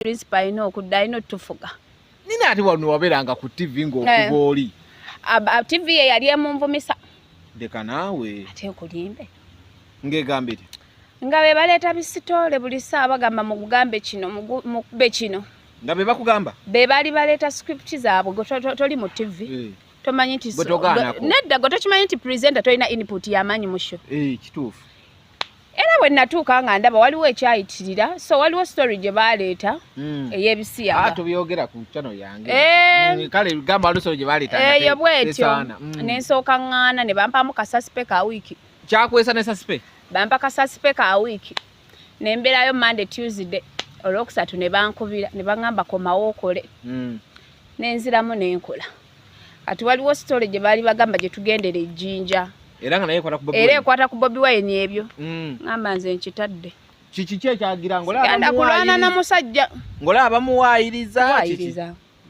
principal alina okudda alina otufuga nina ati wano waberanga ku tv ngaokuba eh. oli tv ye yali emunvumisa leka naawe ate nkulimbe ngegambire nga be baleeta bisitoole buli saa bagamba mugambe kino mukube kino nga be bakugamba be bali baleeta script zaabwe toli mu tv eh. tomanyi nti nedda gwe tokimanyi nti presenter tolina input yamaanyi musho eh, kituufu era bwe natuuka nga ndaba waliwo ekyayitirira so waliwo story gye baaleeta hmm. ey'ebisiyaga ah, tubyogera ku cano yange eh. hmm, kale gamba waliwo story gye baaleeta eyo bwetyo hmm. ne nsooka ŋŋaana ne bampaamu kasasipe ka wiiki kyakwesa ne sasipe bampa kasasipe ka wiiki ne mbeerayo monday tuesday olwokusatu ne bankubira ne baŋŋamba komawo okole ne nziramu ne nkola kati waliwo sitole gye baali bagamba gye tugendera ejjinja era nga naye ekwata ku bobi era ekwata ku bobi wayini ebyo mm. ngamba nze nkitadde kiki ki ekyagira ngolagenda kulwana na musajja ngolaba bamuwaayiriza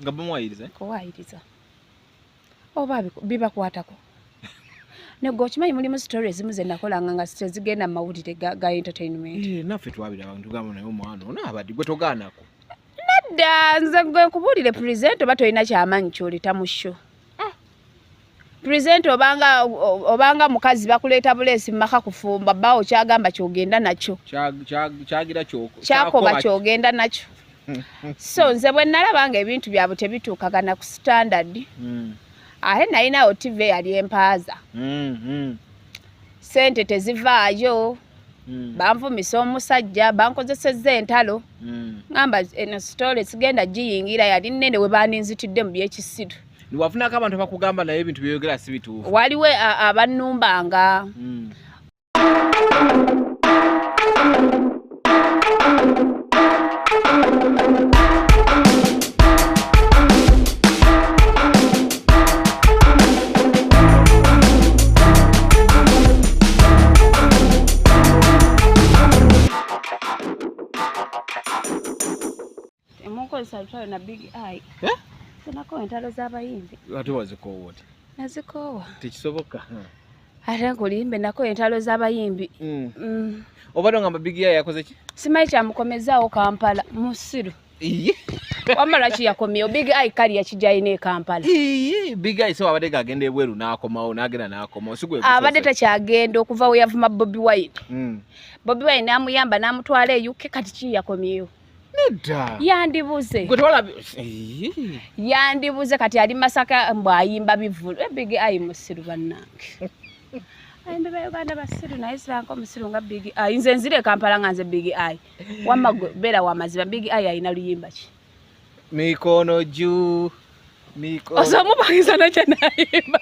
nga bamuwaayiriza kuwaayiriza oba bibakwatako negwe okimanyi mulimu story ezimu zenakolanga nga tezigenda mu mawulire ga entertainment eh, naffe twabira abantu gamba naye omwana ono abadde gwe togaanako nedda nze gwe nkubuulire present oba tolina kyamanyi kyoleta mu sho eh. present obanga obanga mukazi bakuleeta buleesi mumaka kufumba bawo kyagamba kyogenda nakyo kyagira kyakoba kyogenda nakyo so nze bwe nalaba nga ebintu byabwe tebituukagana ku standard mm. ate nalinawo tiva eyali empaaza mm, mm. sente tezivaayo mm. banvumisa omusajja bankozesezza entalo mm. ngamba eno sitole sigenda giyingira yali nene we baninzitidde mu byekisiru niwafunako abantu abakugamba naye ebintu byoyogera si bituufu waliwo abannumbanga mm. mukozesa lutalo na big eye eh? tunakowa entalo z'abayimbi ate wazikoowa oti nazikoowa tekisoboka ate nkulimbe nako entalo z'abayimbi mm. mm. obadde ogamba big eye yakoze ki simanyi kyamukomezaawo kampala musiru wamma lwaki yakomyewo big eye kali yakijayo ne kampala big eye so abadde gagenda ebweru n'akomawo n'agenda n'akomawo abadde takyagenda okuva we yavuma bobi wine hmm. bobi wine n'amuyamba n'amutwala eyuke kati ki yakomyewo yandibuze yandibuze kati ali masaka mbu ayimba bivulu eh, big eye musiru bannange ayimba ba uganda basiru naye siranka omusiru nga big eye nze nzire kampala nga nze big eye wamma beera wamazima big eye alina luyimba ki mikono juu mikono osamupangiza nakye nayimba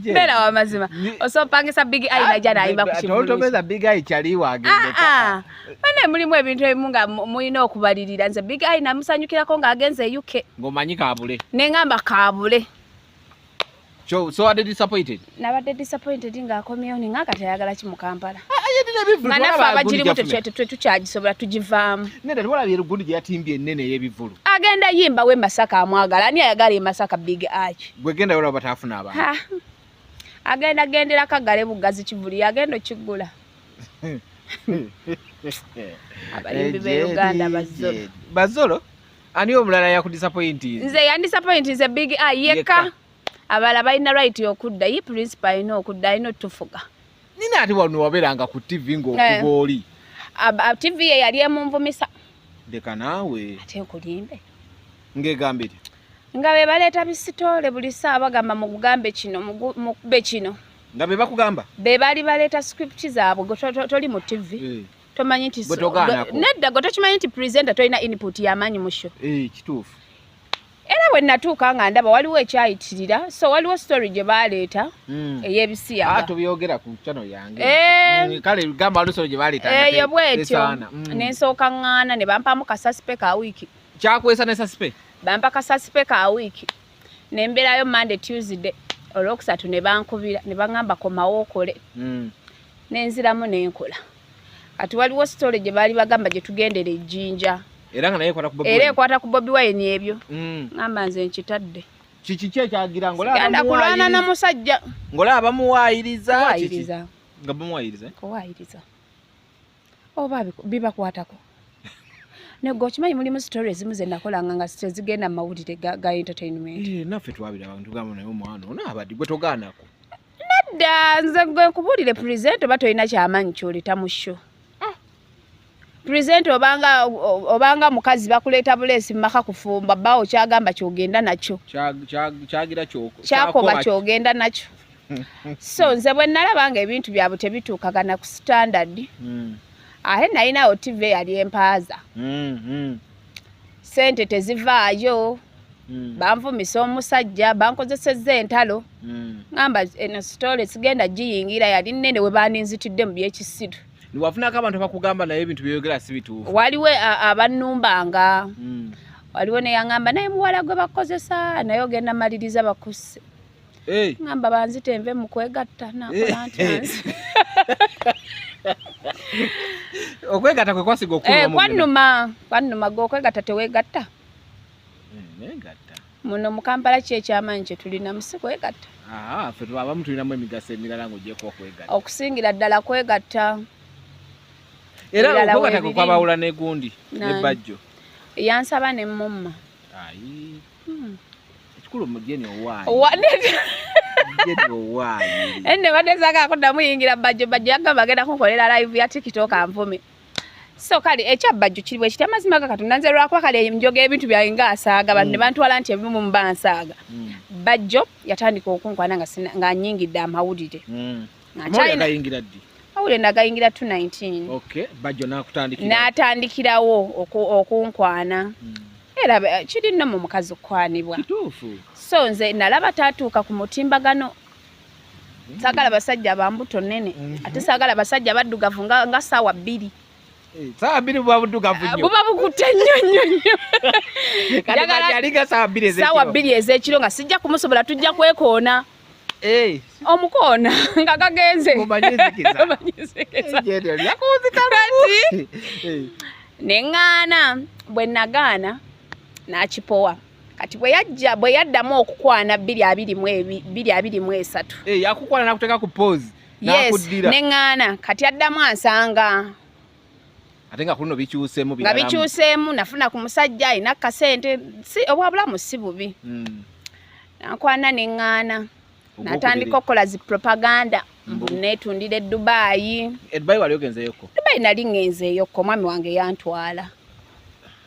beera wamazima osopangisa big eye naja nayimba kukitoltomeza big eye kyaliwo agendeka ah, ah. bana mulimu ebintu ebimu nga mulina okubalirira nze big eye namusanyukirako ng'agenze e uk ng'omanyi kabule nengamba kabule So, so are they disappointed? Nabadde disappointed nga akomyewo ni nga kati ayagala ki mu Kampala. Ah, ah, nga naffe abagirimu tetwe tukyagisobola tugivaamu. Nedda tewalabye lugundi gye yatimbye ennene ey'ebivvulu. Agenda yimba we Masaka amwagala ani ayagala e Masaka big arch. Gwe genda yola batafuna abantu. Agenda gendera kagale bugazi kivuli yagenda okiggula. Abayimbi b'e Uganda bazolo. Bazolo? ani omulala yakudisapointi nze yandisapointi nze big eye yekka abala balina right okudda ye principal alina okudda alina otufuga nina ati wano waberanga ku tv ngaokuba eh. oli tv ye yali emunvumisa leka naawe ate nkulimbe ngegambire nga be baleeta bisitoole buli saa bagamba mukugambe kino mukube kino nga be bakugamba be bali baleeta script zaabwe toli mu tv eh. tomanyi nti nedda gwe tokimanyi nti presenter tolina input yamaanyi mu show eh, kituufu era bwe natuuka nga ndaba waliwo ekyayitirira so waliwo story gye baaleeta hmm. ey'ebisiyagatubyogereyo ah, ku chano yange eh. hmm, kale gamba waliwo story gye baaleeta eyo eh, bwetyo hmm. ne nsooka ŋŋaana ne bampamu kasasipe ka wiiki kyakwesa ne sasipe bampa kasasipe ka wiiki ne mbeerayo monday tuesday olwokusatu ne bankubira ne baŋŋamba komawo okole mm. ne nziramu ne nkola kati waliwo sitole gye baali bagamba gye tugendera ejjinja era nga naye era ekwata ku bobi wayini ebyo mm. ŋamba nze nkitadde kiki ki ekyagira ngolagenda kulwana na musajja ngolaba bamuwayiriza nga bamuwayiriza kuwayiriza oba bibakwatako nego okimanyi mulimu story ezimu zenakolanga nga tezigenda mu mawulire ga entertainment eh, naffe twabiraba ntugamba naye omwana ono abadi gwe togaanako nedda nze gwe nkubuulire present oba tolina kyamanyi kyoleta mu sho ah. present obanga obanga mukazi bakuleeta buleesi mumaka kufumba bawo kyagamba kyogenda nakyo kyagira kyakoba kyogenda nakyo so nze bwe nalaba nga ebintu byabwe tebituukagana ku standard mm. ate nalinawo tv eyali empaaza mm, mm. sente tezivaayo mm. banvumisa omusajja bankozeseza entalo mm. ngamba eno sitole sigenda giyingira yali nene we baninzitidde mu byekisiru wafunako abantu abakugamba naye ebintu byoyogera si bituufu waliwo abannumbanga mm. waliwo neyaŋamba naye muwala gwe bakozesa naye ogenda maliriza bakusse hey. ngamba banzite enve mukwegatta nakola nti anzi okwegatta kwe kwasiga okuluma eh, kwanuma kwanuma gwe okwegatta tewegatta eh, muno mu kampala ki ekyamaanyi kye tulinamu si kwegatta ah, fe abamu tulinamu emigaso emirala ngaogyeko okwegatta okusingira ddala kwegatta era okwegatta kwe kwabawula negundi nebajjo yansaba ne mumma Hmm. Ekikulu mujeni owaayi. Owaayi. Mujeni owaayi. Enne badde zaga akuddamu yingira bajjo bajjo yagamba agenda kunkolera live ya TikTok anvume. So kale ekya bajjo kiri bwe kitya mazima ga katonda nze lwakuba kale njoga ebintu byange nga asaaga bantu ne hmm. bantwala nti ebimu mu bansaaga. Hmm. Bajjo yatandika okunkwana nga nga nyingidde amawulire. mawulire nagayingira 219 n'atandikirawo okunkwana hmm. era eh, kiri nno mu mukazi okukwanibwa so nze nalaba tatuuka ku mutimbagano hmm. sagala basajja bambuto nene hmm. ate sagala basajja baddugavu nga saawa bbiri Eh, saa bbiri buba buddugavu nnyo buba bukutte nnyo nnyo nnyo kati aliga saa bbiri ez'ekiro saa bbiri ez'ekiro nga sijja kumusobola tujja kwekoona Eh. omukoona nga gagenze neŋŋaana bwe nagaana n'akipowa kati bwe yajja bwe yaddamu okukwana bbiri abiri mu bbiri abiri mu esatu eh, yakukwana nakuteeka ku poozi yes neŋŋaana kati addamu ansanga ate nga kuno bikyuseemu nga bikyuseemu nafuna ku musajja alina kasente si obwabulamu si bubi hmm. nakwana ne ŋŋaana natandika okukola zi propaganda mbu netundira edubaayi edubaayi wali ogenzeyoko dubaayi nali ŋenzeyoko omwami wange yantwala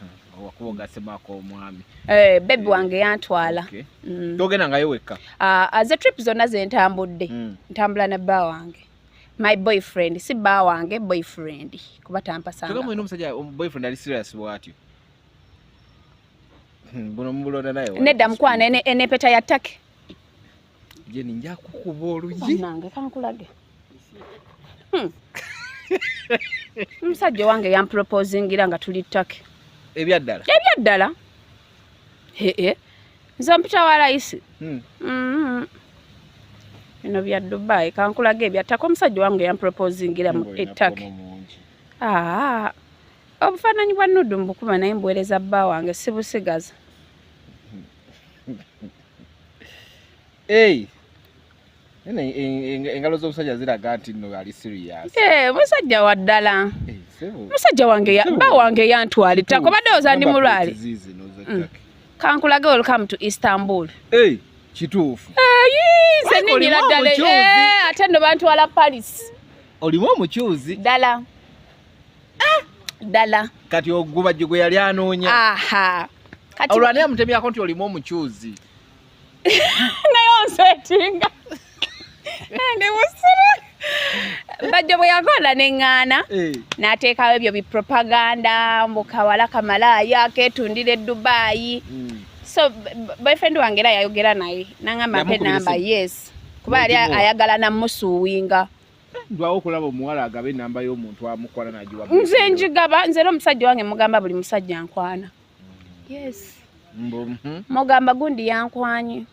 hmm, wakuba ogasemako omwami eh, bebi eh, wange yantwala hmm. togenda ngayo wekka ah, ah, ze trip zonna zentambudde ntambula na bba wange my boyfriend si baa wange boyfriend kuba tampasangaamuina omusajja um, boyfriend ali serious bwatyo hmm, buno mubulonda naye nedda mukwana enepeta ya take jeni njakukuba oluyianange kankulage hmm. omusajja owange yamproposingira nga tuli take ebyaddala ebyaddala hee nze ompita wa layisi hmm. mm-hmm. bino bya dubai kankulaga ebyattaka omusajja wange yamproposingira mu ettaka ah, obufaananyi bwa nudu mbukuba naye mbuweereza bba wange sibusigaza Hey. engalo z'omusajja ziraga nti no ali serious eh, musajja wa ddala eh, musajja wange ba wange yantwali tako badde oza ndi mulwale mm. kankulage welcome to istanbul eh, kituufu nze ninyira ddala ate no bantwala paris olimu omukyuzi ddala ah! ddala kati ogubajjo gwe yali anoonya olwani amutemyako nti olimu omukyuzi naye onsetinga ndi musiru bajjo bwe yakola neŋŋaana eh. n'ateekawo ebyo bipropaganda mbu kawala kamalaaya keetundira edubaayi hmm. so boyfriend wange era yayogera naye naŋamba mpe namba yes kuba yali ayagala namusuuwinga ndwawo okulaba omuwala agaba enamba y'omuntu amukwana nagiwa nze njigaba nze era omusajja wange mugamba buli musajja nkwana yes hmm? mugamba gundi yankwanye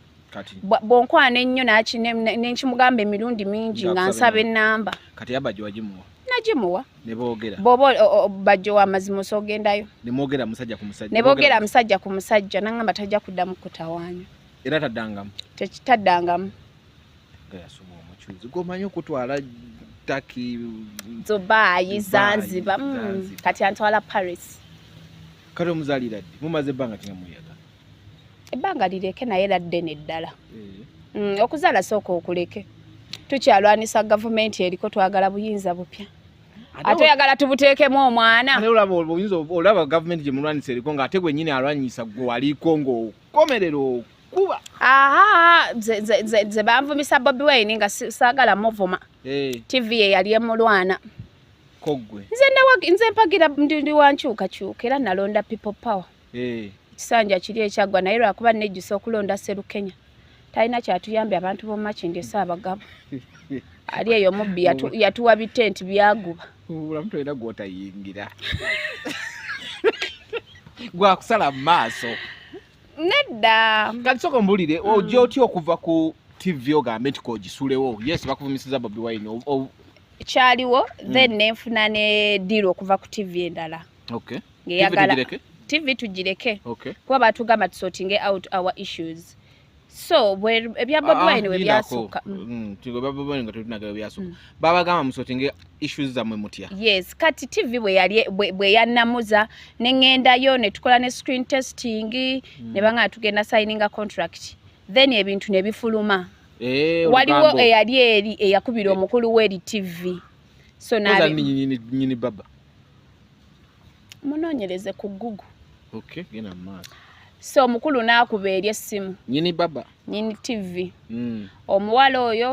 bwonkwana ennyo naki nenkimugamba emirundi mingi nga nsaba enamba kati yabajo wagimuwa nagimuwa bwoba bajjo wamazima osogendayo nebogera musajja ku musajja nangamba tajja kuddamu kutawanya era taddangamu tekitaddangamu nga yasoma omucuuzi gwomanyi okutwala taki dubayi zanziba mm, kati antwala paris kati omuzalira ddi mumaze ebbanga kina muyaga ebbanga lireke naye era ddene ddala eh. mm, okuzaala sooka okuleke tukyalwanisa gavumenti eriko twagala buyinza bupya ate oyagala tubuteekemu omwana olaba obuyinza olaba gavumenti gyemulwanisa eriko nga ate gwenyini alwanyisa gwe waliko ngaokomerero kuba aha ze banvumisa bobi wine nga sagala muvuma eh. tv ye yali emulwana nze mpagira ndi wankyukakyuka era nalonda people power eh. ekisanja kiri ekyaggwa naye lwakuba nejjusa okulonda serukenya talina kyatuyambye abantu bomumakindi esa abagabo ali eyo mubbi yatuwa bitenti byaguba obulamu tolina gwotayingira gwakusala mu maaso nedda kati soka mbulire mm. ojja otya okuva ku tv ogambe nti kogisulewo yes bakuvumisiza bobi wine kyaliwo mm. then nenfuna ne diiru okuva ku tv endala ngeyagala tv tugireke kuba batugamba tusotinge out our issues so ebya bobi ah, wine webyasukka mm. mm, mm. babagamba musotinge issues zamwe mutya yes kati tv bwe yanamuza neŋendayo netukola ne screen testing ne banga tugenda signinga contract then ebintu nebifuluma eh, waliwo eyali eri eyakubira eh. omukulu weri tv so nyini baba munoonyereze ku gugu okay, genda mu maaso so omukulu n'akuba eri essimu nyini baba nyini tivi mm. omuwala oyo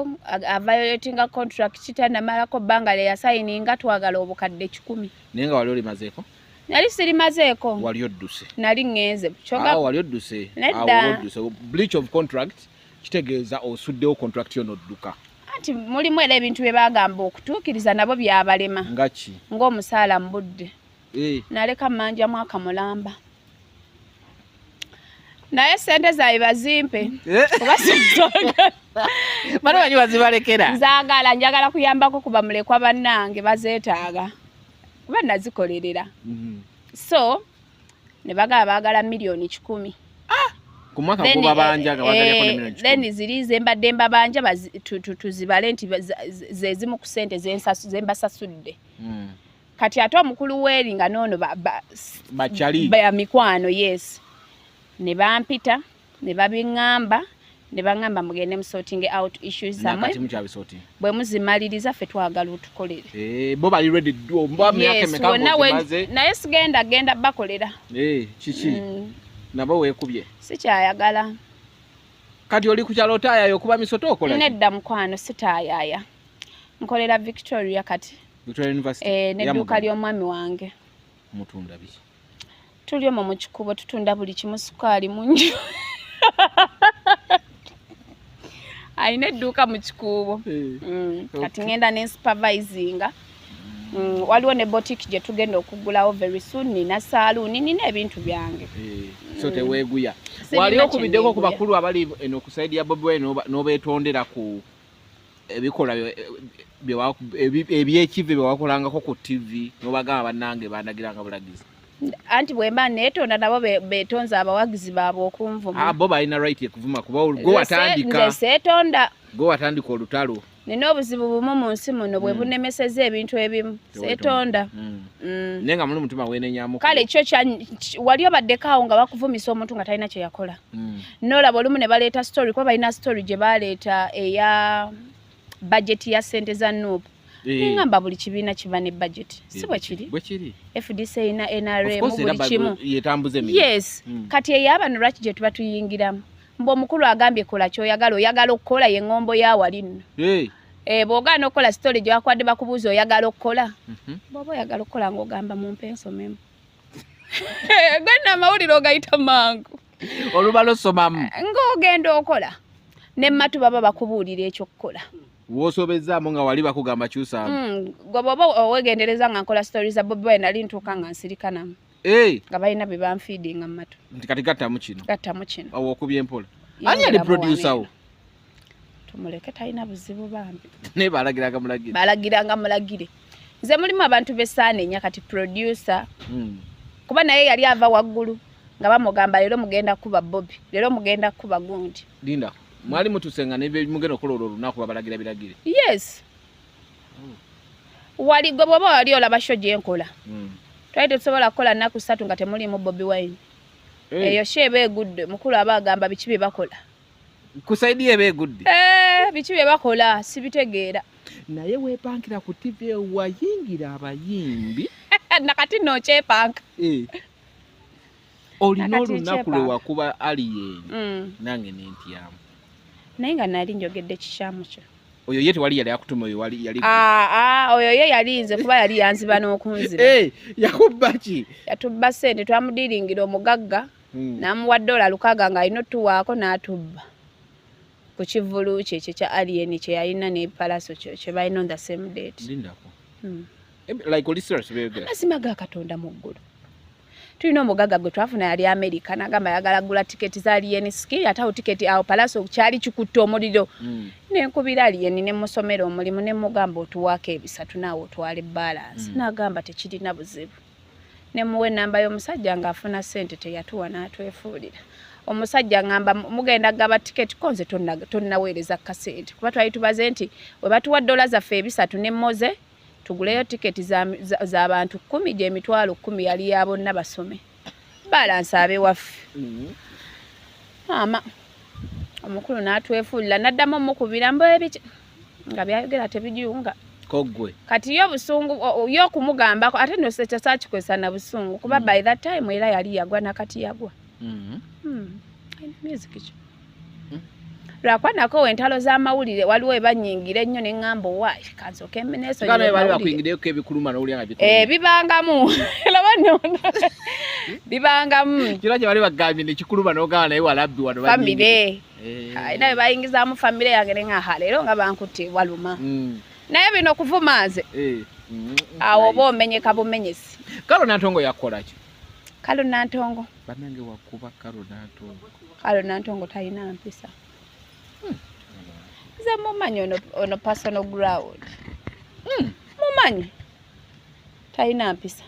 avayoletinga contract kitanamalako bbanga lye yasayininga twagala obukadde kikumi naye nga wali olimazeeko nali sirimazeeko wali odduse nali ŋŋenze ah, wali odduse nedda ah, bleach of contract kitegeeza osuddewo contract yo nodduka anti mulimu era ebintu bye bagamba okutuukiriza nabo byabalema ngaki ng'omusaala mu budde eh. naleka mmanja mwaka mulamba naye sente zaye bazimpe eh. banabanyi bazibalekera nzagala njagala kuyambako kuba mulekwa bannange bazeetaaga kuba nazikolerera mm-hmm. so ne bagala baagala miliyoni kikumi ah! ku mwaka gubabanja nga bagalako ne eh, miliyoni kikumi then ziri ze mbadde mbabanja tuzibale nti ze zimu ku ssente ze mbasasudde hmm. kati ate omukulu weeri nga noono bacali ba mikwano yes ne bampita ne babingamba ne bangamba mugende musorting out issues zamwe bwe muzimaliriza ffe twagala otukolere eh, bo bali ready do mba myaka meka maze naye sigenda genda bakolera eh kiki mm. nabo wekubye sikyayagala kati oli kukyalo tayayo kuba misoto okola nedda mukwano sitayaya nkolera victoria kati victoria university eh, nedduuka ly'omwami wange mutunda biki tuli omwo mu kikubo tutunda buli kimu sukaali mungi alina edduuka mu kikuubo eh, mm, kati ngenda ne supervisinga mm, waliwo ne botik gye tugenda okugulawo very soon nina saaluuni nina ebintu byange eh, so mm. teweeguya wali okubiddeko ku bakulu abali eno ku saidi ya bobi wine n'obeetondera ku ebikolwa ebyekivve byewakolangako ku tv nobagamba banange bandagiranga bulagizi anti bwemba netonda nabo betonze abawagizi baabwe okunvuma ah, bo balina right ekuvuma kuba gwewatandikasetonda gwewatandika olutalo nina obuzibu bumu mu nsi muno bwe mm. bunemeseza ebintu ebimu setonda mm. mm. naye nga muli mutima wenenyamu kale kyo wali obaddeko awo nga bakuvumisa omuntu nga talina kyeyakola nolaba olumu ne baleeta story kuba balina story gye baleeta eya bajeti ya sente za nup eh. nengamba buli kibiina kiba ne bajeti eh, si bwekiri fdc erina nrm buli kimu yes hmm. kati eyo abano lwaki gye tuba tuyingiramu mbu omukulu agambye kola kyoyagala oyagala okukola ye ngombo ya wali nno eh. bwogaana okukola sitole gye wakwadde bakubuuza oyagala okukola mhm. bwoba oyagala okukola ngaogamba mumpe ensomemu gwenna amawulire ogayita mangu olubala osomamu ng'ogenda okola ne matu baba bakubuulira ekyokukola wosobezaamu nga wali bakugamba kyusaamu mm, gwe bwoba owegendereza nga nkola story za bobi wine nali ntuuka nga nsirikanamu eh. nga balina bye banfiidinga mu matu nti kati gattamu kino gattamu kino awo okubye mpola ani yali producer wo tumuleke talina buzibu bambi naye balagiranga mulagire balagiranga mulagire nze mulimu abantu besaana enya kati producer mm. kuba naye yali ava waggulu nga bamugamba leero mugenda kuba bobi leero mugenda kuba gundi linda mwali mutusenga nemugenda okukola olwo olunaku babalagira biragire yes oh. wali gwe bwoba wali olaba sho gyenkola mm. twali tetusobola kukola nnaku ssatu nga temulimu bobi wine eh. eyo hey. sho eba egudde mukulu aba agamba biki bye bakola kusaidia ebe egudde eh, biki bye bakola sibitegeera naye wepankira ku tv eyo wayingira abayimbi nakati nokyepanka eh. olina olunaku lwewakuba aliyeni mm. nange nentyamu naye nga nali njogedde kikyamu kyo oyo ye tewali yali akutuma oyo wali yali ah ah oyo ye yali nze kuba yali yanziba n'okunziba eh yakubba ki yatubba sente twamudiringira omugagga hmm. namuwa dola lukaga nga alina otuwaako natubba ku kivulu kye ekyo kya alien kyeyalina nepalaso kyo kyebalina on the same date hmm. amazima ga katonda mu ggulu tulina omugaga gwe twafuna yali amerika nagamba yagala gula tiketi za alien skill atawo tiketi awo palaso kyali kikutte omuliro hmm. nenkubira alien nemusomera omulimu nemugamba otuwaako ebisatu naawe otwale balance nagamba tekirina buzibu ne muwa ennamba y'omusajja ng'afuna ssente teyatuwa n'atwefuulira omusajja ngamba mugenda gaba tiketi ko nze tonnaweereza kasente kuba twali tubaze nti we batuwa ddola zaffe ebisatu ne moze tuguleyo tiketi za bantu kkumi gy'emitwalo kkumi yali ya bonna basome balansi abewaffe mm-hmm. maama omukulu n'atwefuulira n'addamu omukubira mbwebiki mm -hmm. nga byayogera tebijunga kogwe kati yo busungu yo kumugambako ate no secha sachi kwesa na busungu kuba mm. by that time era yali yagwa na kati yagwa mm. mm. music cho mm. lwakwa nako wentalo za mawulire waliwo ebanyingira ennyo ne ŋŋamba owaayi kanso kemeneso eh, bibangamu bibangamu kiro kye bali bagambye nekikuluma n'ogamba naye walabbi wano famire Eh. Ah, naye bayingizaamu famire yange ne ngaha leero nga bankutte waluma mm. naye bino kuvuma nze eh. mm, awo oba omenyeka bumenyesi kalo nantongo yakukolaki kalo nantongo banange wakuba kalo nantongo kalo nantongo talina mpisa hmm. nze mumanyi ono personal ground hmm. mumanyi talina mpisa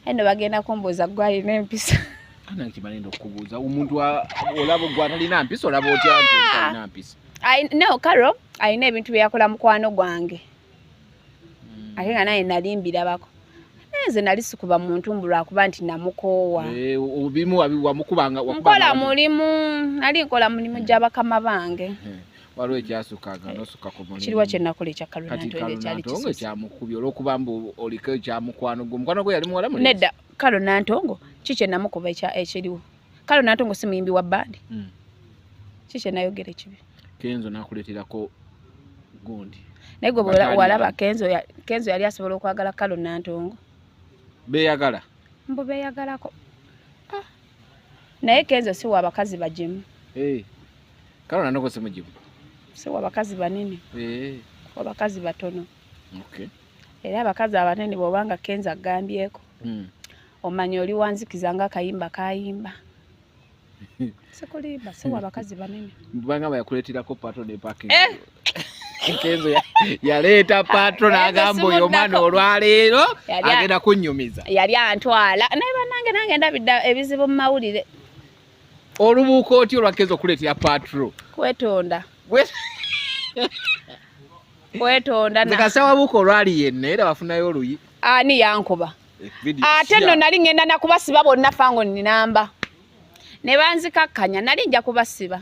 aye no bagenda kumbuuza gwe alina empisa anakimanenda okukubuuza omuntu olaba gwe atalina mpisa olaba otya nti talina mpisa no karo alina ebintu byeyakola mukwano gwange hmm. ate nga naye nali mbirabako nze nali sikuba muntu mbu lwakuba nti namukoowa eh, obimu wamukubanga nkola mulimu nali nkola mulimu gya bakama bange hmm. waliwo ekyasukanga nosuka ku mulimu kiriwa kyenakola ekya kalonantongo ekyamukubye olwokuba mbu oliko ekyamukwano gwe omukwano gwe yali muwala nedda kalo nantongo ki kyenamukuba ekiriwo kalo nantongo si muyimbi wa bandi hmm. ki kyenayogera ekibi kenzo nakuleterako gundi naye gwe walaba kenzo yali asobola okwagala kalo nantongo beyagala mbu beyagalako naye kenzo siwa abakazi bagimu eh. kale nanoko simugimu siwa abakazi banene eh. abakazi batono era abakazi abanene bwobanga kenzo agambyeko hmm. omanya oli wanzikiza nga akayimba kayimba sikulimba siwa abakazi banene banga bayakuletirako pato ne paking eh! Kenzo yaleeta patro n'agamba oyo omwana olwaleero agenda kunnyumiza. Yali antwala naye banange nange ndabidde ebizibu mu mawulire. Olubuuka otya olwa Kenzo okuleetera patro? Kwetonda. Kwetonda na. Zikasawa buuka olwali yenna era bafunayo oluyi. Ani yankuba? Eh, Ate nno nali ngenda nakubasiba bonna fango ninamba. Ne banzikakkanya nali nja kubasiba.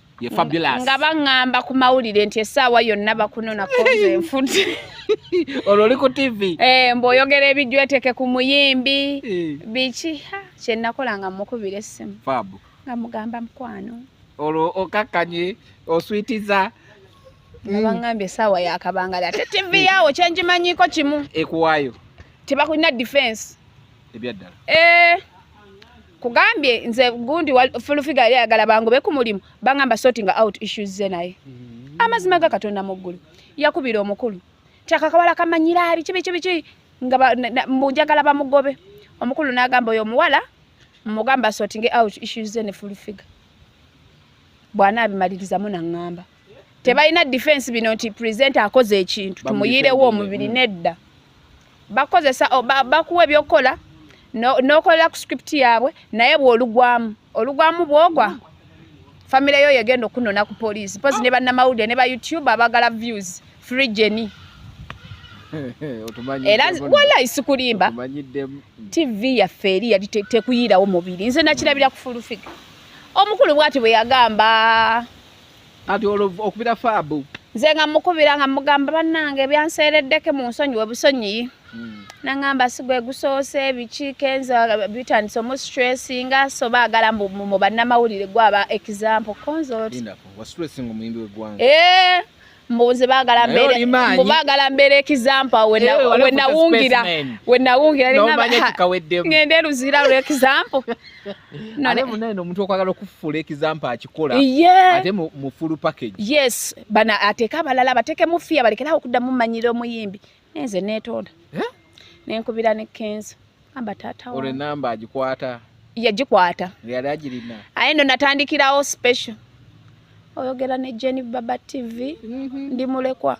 ye fabulous nga bangamba ku mawulire nti esaawa yonna bakunona koze enfuti olwo oli ku tv eh mbo oyogera ebijweteke ku muyimbi eh. biki kye nakola nga mukubira essimu fab nga mugamba mukwano olwo okakkanye oswitiza nabangambye mm. esaawa yakabangala ate tv eh. yawo kyenjimanyiko kimu ekuwayo tebakulina defense ebyaddala eh kugambye nze gundi fulufiga yali ayagala bangobe ku mulimu bangamba sorting out issues ze naye mm-hmm. amazima ga katonda mu ggulu yakubira omukulu tyakakawala kamanyira abi kibi kibi ki nga munjagala bamugobe omukulu n'agamba oyo omuwala mugamba sorting out issues ze ne fulufiga bwana abimalirizamu naŋŋamba tebalina defense bino nti presenter akoze ekintu tumuyirewo omubiri nedda bakozesa bakuwa ebyokukola nokolera ku script yaabwe naye bwolugwamu olugwamu bwogwa famire yo yegenda okunona ku poliisi pozi ne bannamawulire ne ba youtube abagala views free jeni era wala isikulimba tv yaffe eri yali tekuyirawo mubiri nze nakirabira ku fulufiga omukulu bwati bwe yagamba kati olwo okubira faabu nze nga mukubira nga mugamba bannange byanseereddeke mu nsonyi we busonyiyi hmm. nangamba sigwe gusoose biki kenza bitandise omu stressinga so baagala mu bannamawulire gwaba example konzolti mbuzi bagala mbere mbu bagala mbere example when eh, I, when nawungira when nawungira no manya kikawedde ngende luzira lu example no ne munaye no muntu okwagala okufula example akikola yeah. ate mu, mu full package yes bana ateka balala bateke mufia balekera okudda mu manyiro muyimbi nenze netonda eh? nenkubira ne kenzo amba tata ore namba ajikwata yajikwata yali ajirina aye ndo natandikirawo special oyogera ne Jenny Baba TV mm -hmm. ndi mulekwa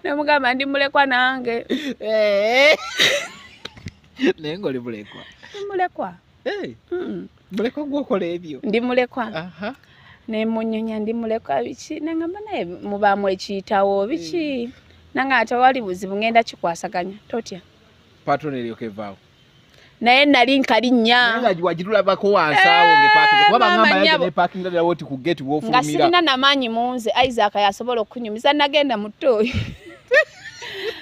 nemugamba ndi mulekwa nange eh. naye ngoli mulekwa mulekwa hey. mm. mulekwa gwokola ebyo ndi mulekwa uh -huh. nemunyonya ndi mulekwa biki nangamba naye mubaamu ekiyitawo biki hey. Eh. nange ate wali buzibu ngenda kikwasaganya totya patron eryokevaawo naye nali nkali nyanga sirina namaanyi munze isaac yasobola okunyumiza nagenda muto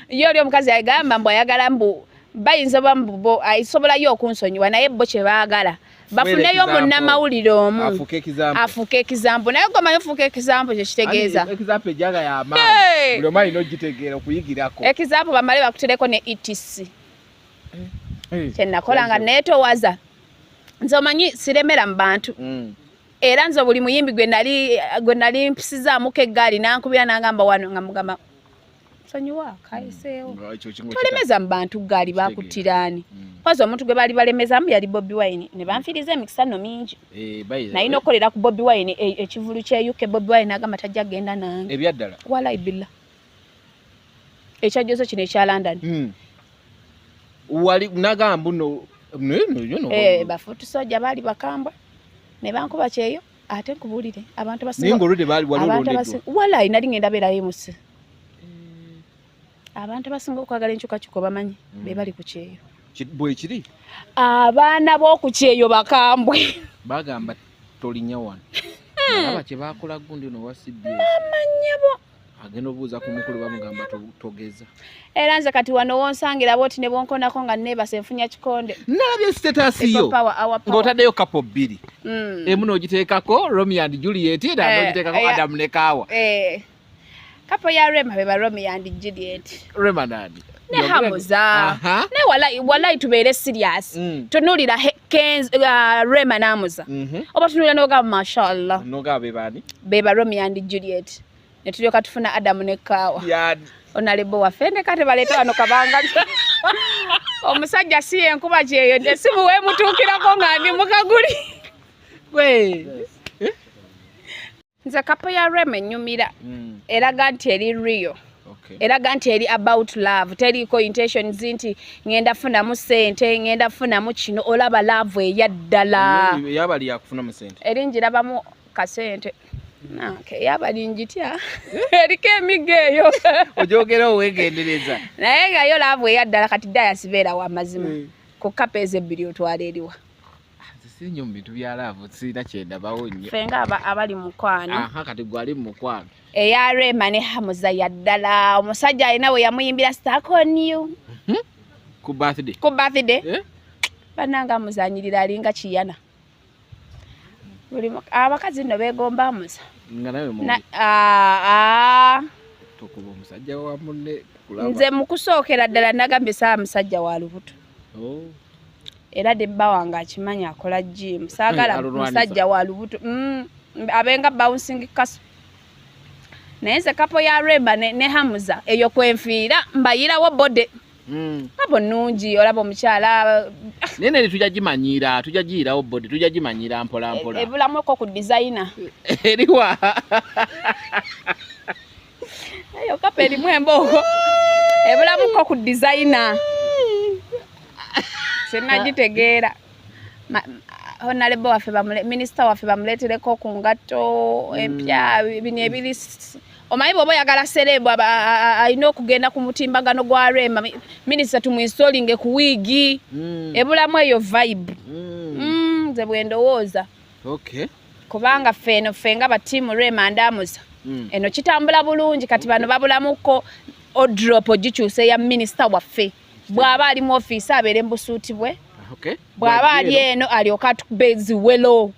yo oli omukazi agamba mbu ayagala mbu bayinza bambubo isobola yo kunsonyiwa naye bo kye baagala bafuneyo munnamawulire omu afuuka ekizambo naye gomanyi ofuuka ekizambo kyekitegeeza ekizambo bamale bakutereko ne etc eh, eh, kyenakola nga netowaza nze omanyi siremera mu bantu mm. era nze buli muyimbi gwe nali mpisizaamuko eggaali nankubira nangamba wano nga mugamba sonyiwa kayiseewo mm. tolemeza mu bantu gaali bakuttiraani mm. kwazi omuntu gwe baali balemezamu yali bobi wine ne banfiiriza emikisano mingi eh, naye nokukolera ku bobi wine e, ekivulu kya uk bobi wine agamba tajja kugenda nange ebyaddala walai billa ekyajjozo kino ekya london mm. wali nagamba no eh, bafutusajja baali bakambwa ne bankuba kyeyo ate nkubulire abantu basiwalayi nali ngenda beerayo emusi mm. abantu abasinga okwagala enkyukakyuka obamanyi mm. be bali ku kyeyo bwekiri abaana b'oku kyeyo bakambwe bagamba tolinya wano hmm. alaba kyebakola gundi no wasibye amanyabo agenda obuuza ku mukulu bamugamba togeza era nze kati wano wonsangira bwoti ne bwonkonako nga neebase nfunya kikonde nalabye sitetaasiyo ng'otaddeyo kapo bbiri mm. emu n'ogiteekako romi and juliet era eh, n'ogiteekako eh, adamu ne kaawa eh. kapo ya rema be ba romi and juliet rema nani ne hamuza ne walai walai tubeere serious mm. tunulira kenz uh, rema namuza mm -hmm. oba tunulira noga mashallah noga bebani beba romeo and juliet ne tulyoka tufuna adamu ne kawa yeah. onalebo waffe ndeka tebaleeta wano kabanga omusajja si yenkuba kyeyo nte simu wemutuukirako nga ndi mukaguli gwe yes. nze kapo ya rema enyumira mm. eraga nti eri real okay. eraga nti eri about love teriiko intentions nti ngenda funamu sente ngenda funamu kino olaba love eya ddala yabali yakufunamu sente eri njirabamu kasente Okay, yaba linjitya eriko emiga eyo ojogera owegendereza naye nga yo laavu eyaddala kati dayasibeera wamazima mm. ku kapa ezo ebbiri otwala eriwa sinyo mu bintu bya laavu sirina kyendabawo nnyo fe nga abali mukwano aha kati gwali mu mukwano eya rema ne hamuza yaddala omusajja alina we yamuyimbira stack on you mhm. ku birthday ku birthday eh? bananga amuzanyirira alinga kiyana buli abakazi nno begomba amuza nga nawe mu tukuba omusajja wa munne nze mukusookera ddala nagambye saa musajja wa lubuto oh. era debba wange akimanyi akola jimu saagala musajja wa lubuto mm, abenga bouncing kaso naye nze kapo ya remba ne, ne hamuza eyo kwenfiira mbayirawo bode mm. abo nungi olaba omukyala naye nene tujja gimanyiira tujja giyirawo bode tujja gimanyiira mpolampola e, ebulamu eko ku dizayina eriwa Ayo kape elimu embogo. Ebula muko ku designer. Sina jitegeera. Honalebo wafe bamule, minister wafe bamuletele ko kungato, empya, mm. bini ebili. Omayi bobo ya gala selebu, ayino kugenda kumutimba gano gwa rema. Minister tumuinsolinge kuwigi. Mm. Ebula mwe yo vibe. Mm. Mm, ze buendo woza. Okay. kubanga ffe eno ffe nga batiimu rema ndamuza mm. eno kitambula bulungi kati bano babulamuko odrop ogikyusa eya minisita waffe bw'aba ali mu ofiisi abeere mu busuuti bwe ah, bw'aba ali eno alyoke atukubezi welo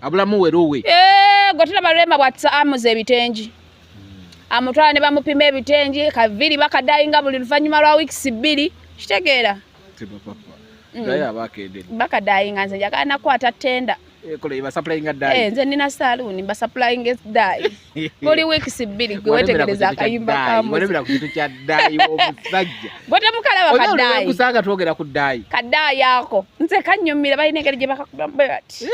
abulamu welo we eh, gwe tulaba rema bwatisa amuza ebitengi hmm. amutwala ne bamupima ebitengi kaviri bakadayinga buli luvannyuma lwa wiikisi bbiri kitegeera mm. bakadayinga nze njagala nakwata tenda Eh, nze nina saluuni mbasapulainga eddayi buli wiikisi bbiri gwe wetegereza akayimba kamuzigwetemukalaba kadaayiusanga twogera ku ddaayi kadaayi ako nze kanyumira balina engeri gye bakakubamu bwe bati eh?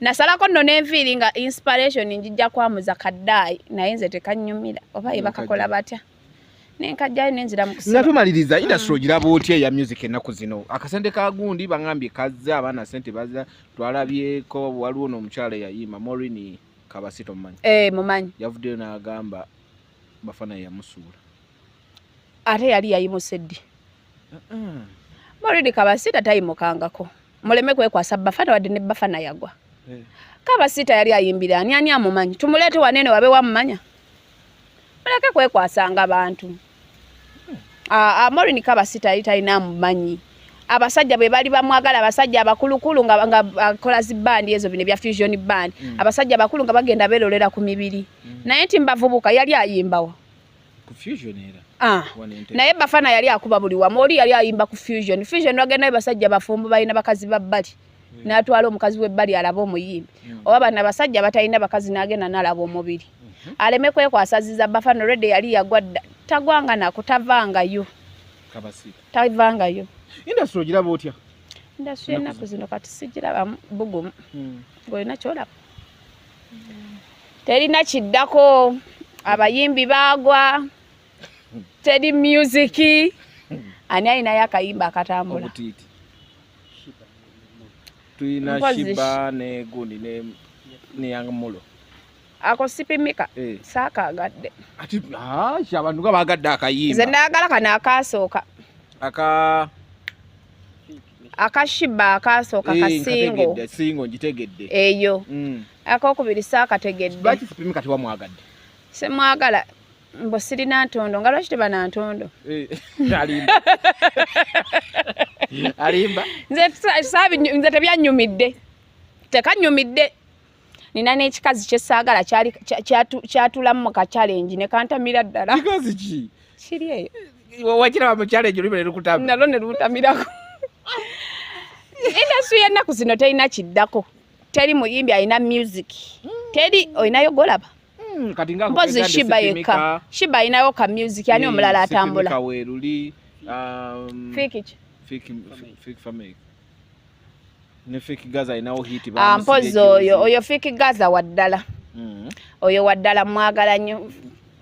nasalako nno nenviiri nga inspiration njijja kwamuza kadaayi naye nze tekanyumira oba ye bakakola batya nenkajjayo nenzira mukusiba nga tumaliriza industry mm. ogiraba otya eya music ennaku zino akasente ka gundi bangambye kazze abaana sente baza twalabyeko waliwo n'omukyala eyayiima morini kabasi tomumanyi eh, mumanyi yavuddeyo n'agamba bafana yamusuula ate yali yayimuse ddi morini kabasi tatayimukangako muleme kwekwasa bafana wadde ne bafana yagwa eh. kabasita yali ayimbira ani ani amumanyi tumuleete wanene wabe wamumanya muleke kwekwasanga bantu amorin kabasita yali talina mumanyi abasajja bwe bali bamwagala abasajja abakulukulu nga akola zi bandi ezo bino ebya fusion band mm. abasajja abakulu nga bagenda belolera ku mibiri mm. naye nti mbavubuka yali ayimbawa ah. naye bafana yali akuba buli wamu oli yali ayimba ku fusion fusion wagenda basajja bafumbo balina bakazi babbali hmm. natwala omukazi webbali alaba omuyimbi hmm. oba bana basajja batalina bakazi nagenda nalaba omubiri hmm. aleme kwekwasaziza bafano rede yali yagwa tagwanga nako tavangayo tavangayo indasitry ogiraba otya indasitry enaku zino kati sigiraba bugumu ngaolina kyolaba terina kiddako abayimbi bagwa teri musiki ani alinayo akayimba akatambula tulina Mpozi shi- shiba ne gundi ne ne young mulo ako sipimika Eh. saakagadde ati ah, shi abantu nga bagadde nze akayimba ndagala kano akaasooka aka akashiba akaasooka Eh, kasingo nkategedde, singo ngitegedde eyo Mm. akokubiri saakategedde lwaki sipimika tewamwagadde semwagala mbu sirina ntondo nga lwaki teba na ntondo eh, alimba nze tebyanyumidde tekanyumidde nina n'ekikazi kyesaagala kyatulamu mu kacalengi ne kantamira ddala kiri eyo nalo ne luntamirako indasitri y'ennaku zino terina kiddako teri muyimbi alina music teri olinayo golaba Hmm, kati nga mpozi shiba yeka shiba inayo ka music yani omulala atambula ka weruli um fiki fiki fiki family ne fiki gaza inawo hit ba ah, mpozi oyo oyo fiki gaza wadala mm. oyo wadala mwagala nyo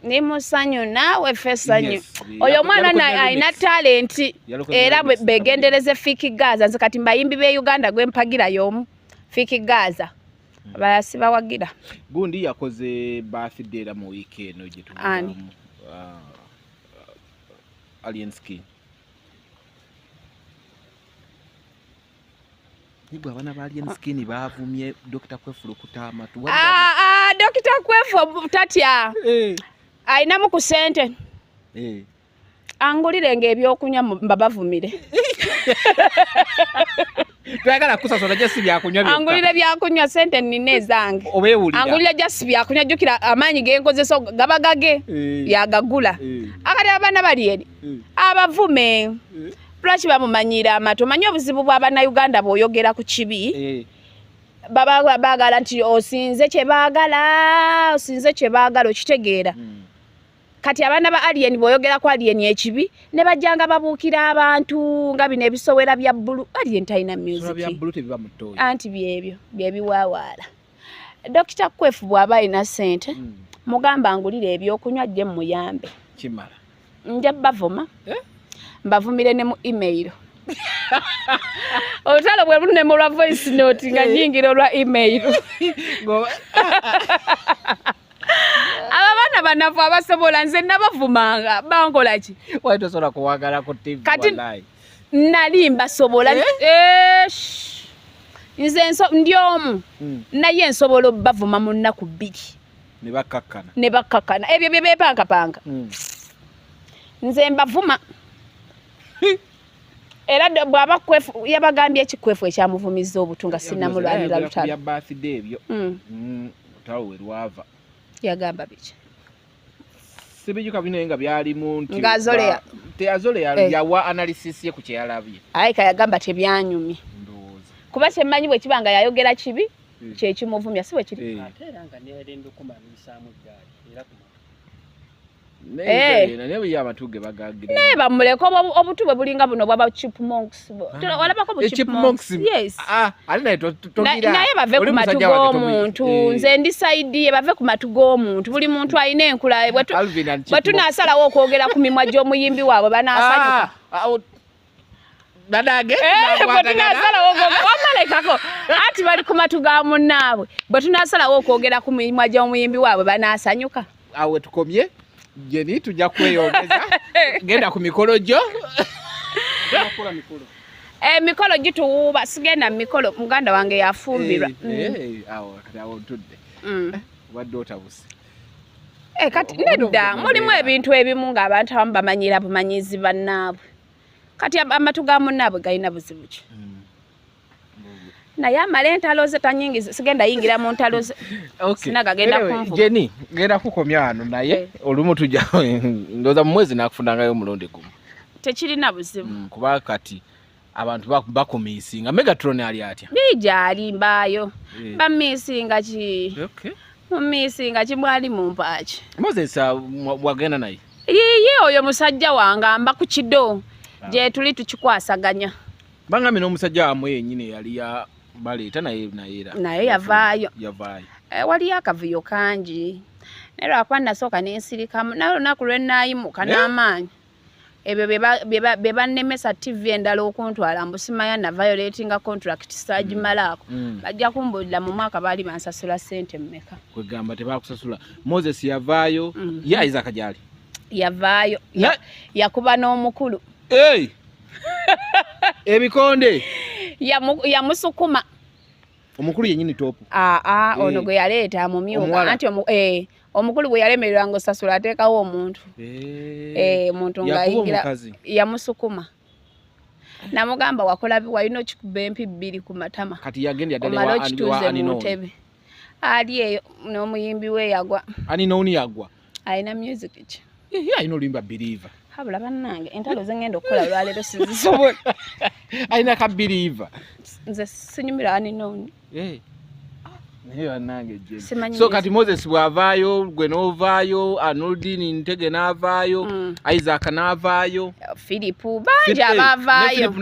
ni musanyu nawe fesanyu yes, oyo mwana na aina talent era begendereze fiki gaza nze kati mbayimbi be Uganda gwe mpagira yomu fiki gaza abalala sibawagira gundi yakoze birthday era mu wiiki eno gye tuani uh, alienski Nigwa abana ba alien skin bavumye Dr. Kwefu lukuta amatu. Ah ah Dr. Kwefu tatya. Eh. Ainamu ku sente. Eh. angulire ng'ebyokunywa mbabavumire twagala kusasula jasi byakunywa byokka angulire byakunywa sente nina ezange obeewulira angulire jasi byakunywa jjukira amaanyi genkozesa gaba gage eh. yagagula eh. akati abaana bali eri eh. abavume lwaki bamumanyiira amatu omanyi obuzibu bw'abannayuganda bw'oyogera ku kibi baba bagala nti osinze kye bagala osinze kye bagala okitegeera hmm. kati abaana ba alien bwoyogera ku alien ekibi ne bajjanga babuukira abantu nga bino ebisowera bya bbulu alien talina musicanti byebyo byebiwawaala dokita kwefu bw'aba alina sente hmm. mugamba ngulire ebyokunywa jje mumuyambe nja bavuma eh? mbavumire ne mu email olutalo bwe lunema olwa voice note nga eh. nyingira olwa email abaana banafu abasobola nze nabavumanga bankola ki wali tosobola kuwagala ku tv kati nali mbasobola eh? Eh, nze ndi omu hmm. naye nsobola obavuma mu nnaku bbiri ne bakkakkana ebyo bye bepankapanga hmm. nze mbavuma era bwaba kwefu yabagambye ekikwefu ekyamuvumizza obutu nga sinamulwanira lutalo birthday ebyo hmm. mm, lutalo we lwava yagamba biki sibijuka bino nga byalimu nti nga azoleya teyazoleya eh. yawa analysis ye ku kyeyalabye ayi kayagamba tebyanyumye kuba kyemmanyi bwe kiba nga yayogera kibi hmm. kyekimuvumya si bwe kiri eh. Eh. naye bamuleka obutu bwe bulinga buno bwaba chipmonksnaye ah. ah, bave ku matu g'omuntu eh. nze ndi saidi ye bave ku matu g'omuntu buli muntu alina enkula bwe tunasalawo okwogera ku mimwa gy'omuyimbi waabwe banasanyuka ah, bwetunasalawo wamalekako anti bali ku matu ga munnaabwe bwe tunasalawo okwogera ku mimwa gy'omuyimbi waabwe banasanyuka awo wetukomye jeni tujja kweyongeza genda ku mikolo gyo emikolo eh, gituwuuba sigenda mu mikolo muganda wange yafumbirwa eh, eh, mm. awo ntudde mm. wadde otabuse Eh, kati nedda mulimu ebintu ebimu ng'abantu abamu bamanyira bumanyizi bannaabwe kati amatu ga munnaabwe galina buzibu ki mm. naye amala entalo ze tanyingiza sigenda yingira mu ntalo ze sina gagenda kunvuga jeni genda kukomya wano naye eh. olumu tujja ndoza mu mwezi nakufunangayo omulundi gumu tekirina buzibu mm, kuba kati abantu bakumisinga megatron ali atya bijali mbayo eh. bamisinga ki okay. mumisinga kimwali mumpaaki moses ah, wagenda naye yiye oyo musajja wange amba ku kido ah. gyetuli tukikwasaganya bangambye n'omusajja wamwe yenyini eyali baleeta naye nayeera naye yavaayo yavaayo eh, waliyo akavuyo kangi naye lwakuba nasooka nensirikamu naye olunaku lwenaayimuka eh? n'amaanyi ebyo bye bannemesa ttivi endala okuntwala mbu simanya na violatinga contract saagimalaako mm. mm. bajja kumbuulira mu mwaka baali bansasula ssente mmeka kwegamba tebakusasula moses yavaayo mm. ye isaka gyali yavaayo yakuba n'omukulu ebikonde yamusukuma omukulu yenyini topu aa ah, ah, ono gwe yaleeta mumyuka anti eh. omukulu bwe yalemererwa nga osasula ateekawo omuntu eh, eh, muntu ngaayingira yamusukuma namugamba wakola walina okikuba empi bbiri ku matama omala okituuze mu ntebe ali eyo n'omuyimbi we yagwa alina music ki alina oluyimba biriiva habula bannange entalo zengenda okukola lwaleero sizisobola alina ka biriiva nze sinyumira aninooni eh. so kati moses bwavaayo gwe novaayo anoldin ntege navaayo mm. isaac navaayo filipu bangi abavaayo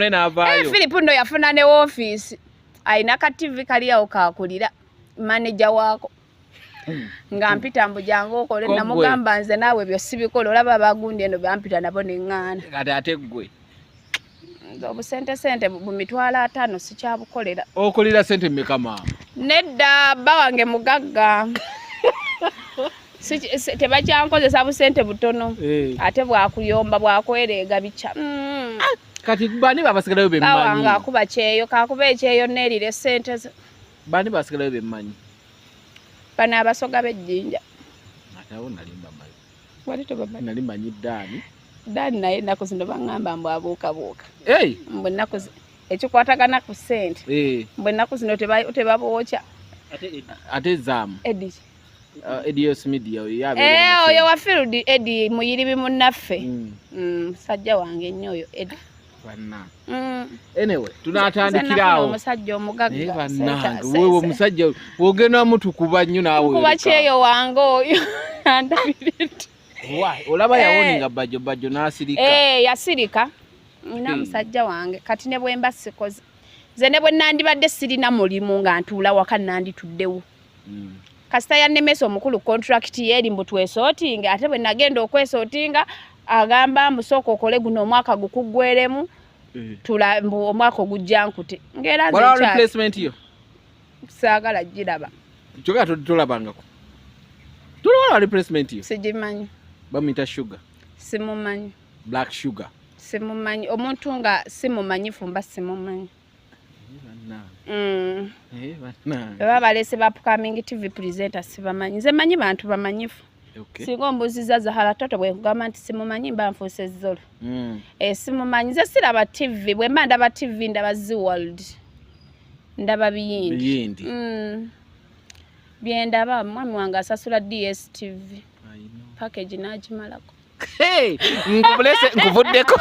filipu eh, no yafuna ne wofiisi alina ka tv kaliyawo kakulira maneja waako nga mpita mbu jangu okole namugamba nze naawe ebyo sibikola olaba abagundi eno bampita nabo neŋŋaana kati ate ggwe obusente sente mu mitwalo ataano sikyabukolera okolera sente mmeka maama nedda bba wange mugagga tebakyankozesa busente butono eh. ate bwakuyomba bwakwereega bikya mm. ah, kati bani babasigalayo bemmanyi awange akuba kyeyo kakuba ekyeyo neerire sente Bani basigalayo be mmanyi? Bano abasoga b'ejjinja. Ate awo nali mbamanyi. Wali tobamanyi? Nali manyi Daani. Daani naye ennaku zino bangamba mbu abuukabuuka. Hey! Mbu ennaku zino ekikwatagana ku ssente. Hey. Mbu ennaku zino tebabookya. Ate Edi. Ate zaamu. Edi. Uh, Edi Yos Media oyo yabe. Eh, oyo wa field Edi muyiribi munnaffe. Mm. Mm, sajja wange nnyo oyo Edi. Mm. anyway tunatandikirawo omusajja omugaggawewe omusajja wogenda mutukuba nnyo naweokuba kyeyo wange oyo andabiriti olaba yawoni eh. nga bajjo bajjo nasirika eh, yasirika nina hmm. musajja wange kati ne bwemba sikoze nze ne bwe nandibadde sirina mulimu nga ntuula waka nandituddewo hmm. kasita yannemesa omukulu contract ye eri mbu twesootinga ate bwe nagenda okwesootinga agamba mbu sooka okole guno omwaka gukuggweremu eh. tula mbu omwaka ogujja nkute ngaera replacement yo saagala giraba kyoka tolabangako tolwala replacement yo sigimanyi bamuyita sugar simumanyi black sugar simumanyi omuntu nga simumanyifu mba simumanyi Mm. Eh, baba balese ba upcoming tv presenter sibamanyi nze manyi bantu bamanyifu okay. singa ombuziza zahara toto bwekugamba nti simumanyi mba nfuusa ezzolo mm. e, eh, simumanyi nze siraba tv bwemba ndaba tv ndaba zi world ndaba biyindi mm. byendaba mwami wange asasula dstv package nagimalako nkuvuddeko